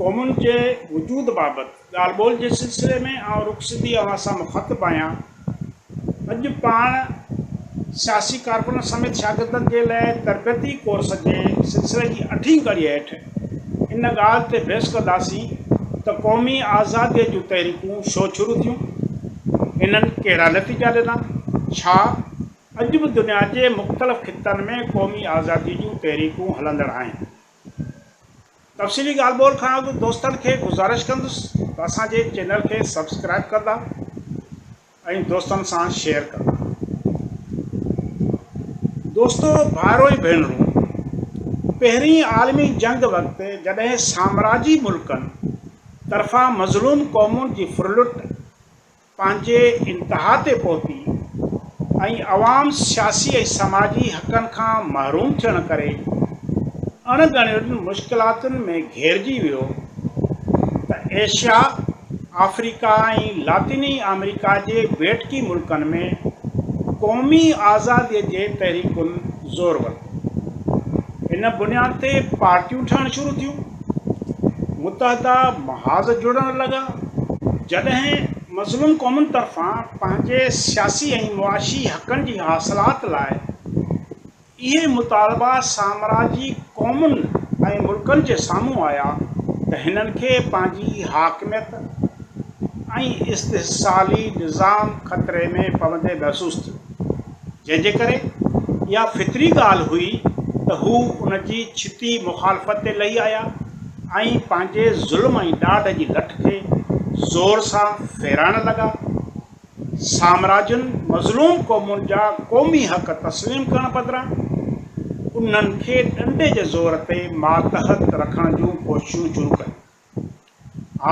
قومن جي وجود بابت ڳالهه ٻولهه جي سلسلي ۾ آئون رخصتي اوهان سان مخاطب آهيان. اڄ پاڻ سياسي ڪارڪنن سميت شاگردن جي لاء تربيتي ڪورس جي سلسلي جي اٺين ڪڙي هيٺ ان ڳالهه تي بحث ڪنداسين ته قومي آزادي جون تحريڪون شو شروع ٿيون؟ انهن ڪهڙا نتيجا ڏنا؟ ڇا اڄ به دنيا جي مختلف خطن ۾ قومي آزادي جون تحريڪون هلندڙ آهن؟ تفصيلي ڳالهه ٻولهه کان اڳ دوستن کي گذارش ڪندس ته اسان جي چينل کي سبسڪرائيب ڪندا ۽ دوستن سان شيئر ڪندا دوستو ڀائرو ۽ ڀينرون پهرين عالمي جنگ وقت جڏهن سامراجي ملڪن طرفان مظلوم قومن جي ڦرلٽ پنهنجي انتها تي پهتي ۽ عوام سياسي ۽ سماجي حقن کان محروم ٿيڻ ڪري اڻ ڳڻيل مشڪلاتن ۾ گهيرجي ويو ته ايشيا، آفريڪا ۽ لاطيني آمريڪا جي ٻيٽڪي ملڪن ۾ قومي آزادي جي تحريڪن زور ورتو. ان بنياد تي پارٽيون ٺهڻ شروع ٿيون، متحده محاذ جڙڻ لڳا، جڏهن مظلوم قومن طرفان پنهنجي سياسي ۽ معاشي حقن جي حاصلات لاء اهي مطالبا سامراجي قومن ۽ ملڪن جي سامهون آيا ته هنن کي پنهنجي حاڪميت ۽ استحصالي نظام خطري ۾ پوندي محسوس ٿيو. جنهن جي ڪري اها فطري ڳالهه هئي ته هو ان جي ڇتي مخالفت تي لهي آيا ۽ پنهنجي ظلم ۽ ڏاڍ جي لٺ کي زور سان ڦيرائڻ لڳا. سامراجن مظلوم قومن جا قومي حق تسليم ڪرڻ بدران انهن کي ڏنڊي جي زور تي ماتحت رکڻ جون ڪوششون شروع ڪيون.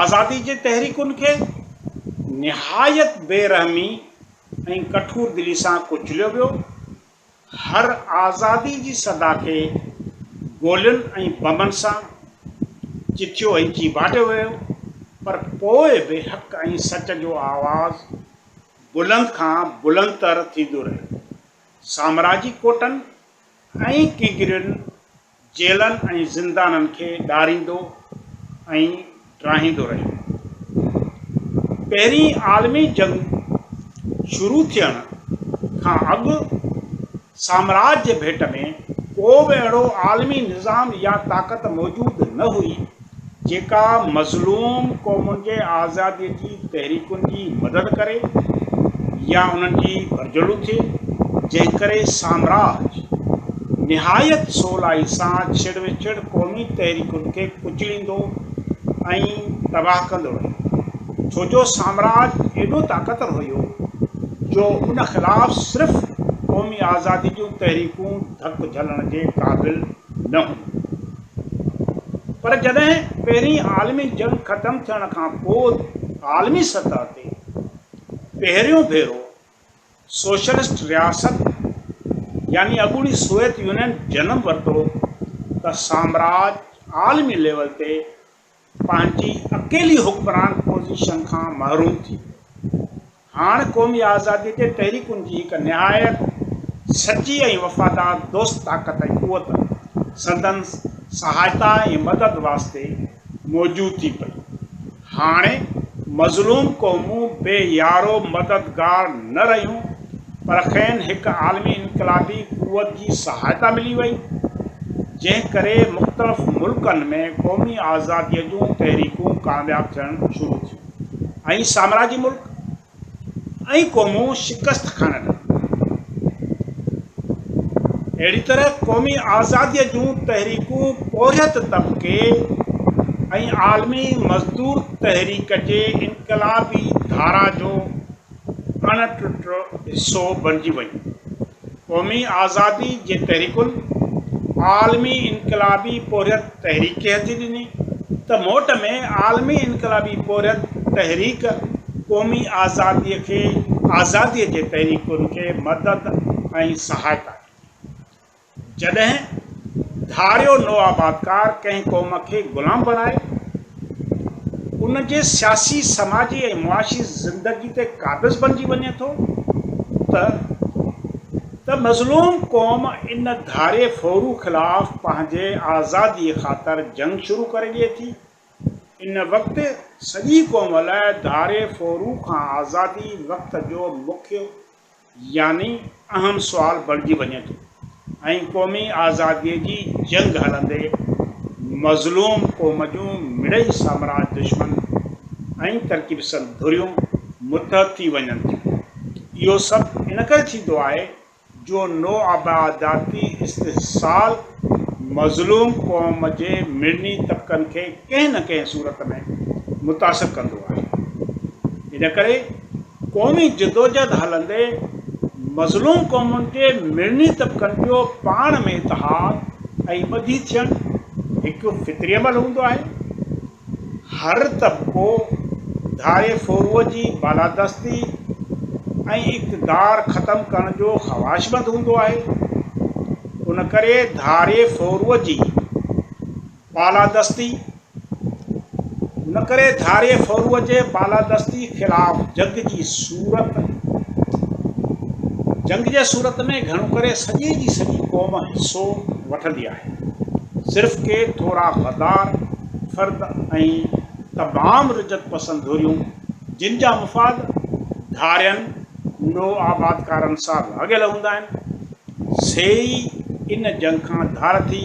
آزادي جي تحريڪن کي نهايت بي رحمي ۽ ڪٺور دلي سان ڪچليو ويو. هر آزادي جي صدا کي گولين ۽ بمن سان چٿيو ۽ چيڀاٽيو ويو پر پوء به حق ۽ سچ جو آواز بلند کان بلند تر ٿيندو رهيو. سامراجي ڪوٽن ۽ ڪنگرين جيلن ۽ زندانن کي ڏاريندو ۽ ڊاهيندو رهيو. پهرين عالمي جنگ شروع ٿيڻ کان اڳ سامراج جي ڀيٽ ۾ ڪو به اهڙو عالمي نظام يا طاقت موجود نه هئي، جيڪا مظلوم قومن کي آزاديء جي تحريڪن جي مدد ڪري يا انهن جي ڀرجهلو ٿئي، جنهن ڪري سامراج نهايت سولائي سان ڇڙ وڇڙ قومي تحريڪن کي ڪچليندو ۽ تباهه ڪندو رهيو، ڇو جو سامراج ايڏو طاقتور هيو جو ان خلاف صرف قومي آزادي جون تحريڪون ڌڪ جهلڻ جي قابل نه هيون. پر جڏهن پهرين عالمي جنگ ختم ٿيڻ کان پوء عالمي سطح تي پهريون ڀيرو سوشلسٽ رياست يعني اڳوڻي سوويت يونين جنم ورتو ته سامراج عالمي ليول تي پنهنجي اڪيلي حڪمران پوزيشن کان محروم ٿي ويو. هاڻ قومي آزاديء جي تحريڪن جي هڪ نهايت سچي ۽ وفادار دوست طاقت ۽ قوت سندن سهائتا ۽ مدد واسطي موجود ٿي پئي. هاڻي مظلوم قومون بي يارو مددگار نه رهيون. پر کين هڪ عالمي انقلابي قوت جي سهائتا ملي وئي، جنهن ڪري مختلف ملڪن ۾ قومي آزاديء جون تحريڪون ڪامياب ٿيڻ شروع ٿيون ۽ سامراجي ملڪ ۽ قومون شڪست کائڻ لڳيون. اهڙي طرح قومي آزاديء جون تحريڪون پورهيت طبقي ۽ عالمي مزدور تحريڪ جي انقلابي ڌارا جو اڻ ٽٽو حصو بڻجي ويون. قومي آزادي جي تحريڪن عالمي انقلابي پورهيت تحريڪ کي هٿي ڏني ته موٽ ۾ عالمي انقلابي پورهيت تحريڪ قومي آزادي کي آزادي جي تحريڪن کي مدد ۽ سهائتا ڏني. جڏهن ڌاڙيو نوآبادڪار ڪنهن قوم کي غلام بڻائي ان جي سياسي، سماجي ۽ معاشي زندگي تي قابض بڻجي وڃي ٿو ته ته مظلوم قوم ان ڌاڙي ڦورو خلاف پنهنجي آزادي خاطر جنگ شروع ڪري ڏئي ٿي. ان وقت سڄي قوم لاء ڌاڙي ڦورو کان آزادي وقت جو مکيه يعني اهم سوال بڻجي وڃي ٿو ۽ قومي آزاديء جي جنگ هلندي مظلوم قوم جون مڙئي سامراج دشمن ۽ ترقي پسند ڌريون متحد ٿي وڃن ٿيون. اهو سڀ ان ڪري ٿيندو آهي جو نوآبادياتي استحصال مظلوم قوم جي مڙني طبقن کي ڪنهن نه ڪنهن صورت ۾ متاثر ڪندو آهي. ان ڪري. قومي جدوجھد ھلندي مظلوم قومن جي مڙني طبقن جو پاڻ ۾ اتحاد ۽ ٻڌي ٿيڻ ھڪ فطري عمل ھوندو آھي. ھر طبقو ڌاري ڦوروء جي بالادستي ۽ اقتدار ختم ڪرڻ جو خواھشمند ھوندو آھي. ان ڪري ڌاري ڦوروء جي بالادستي نه ڪري ڌاري ڦرو جي بالادستي خلاف جنگ جي صورت جنگ جي صورت ۾ گهڻو ڪري سڄي جي سڄي قوم حصو وٺندي آهي صرف ڪي ٿورا غدار فرد ۽ تمام رجعت پسند ڌريون جن جا مفاد ڌارين نوآبادڪارن سان لاڳيل هوندا آهن سي ئي ان جنگ کان ڌار ٿي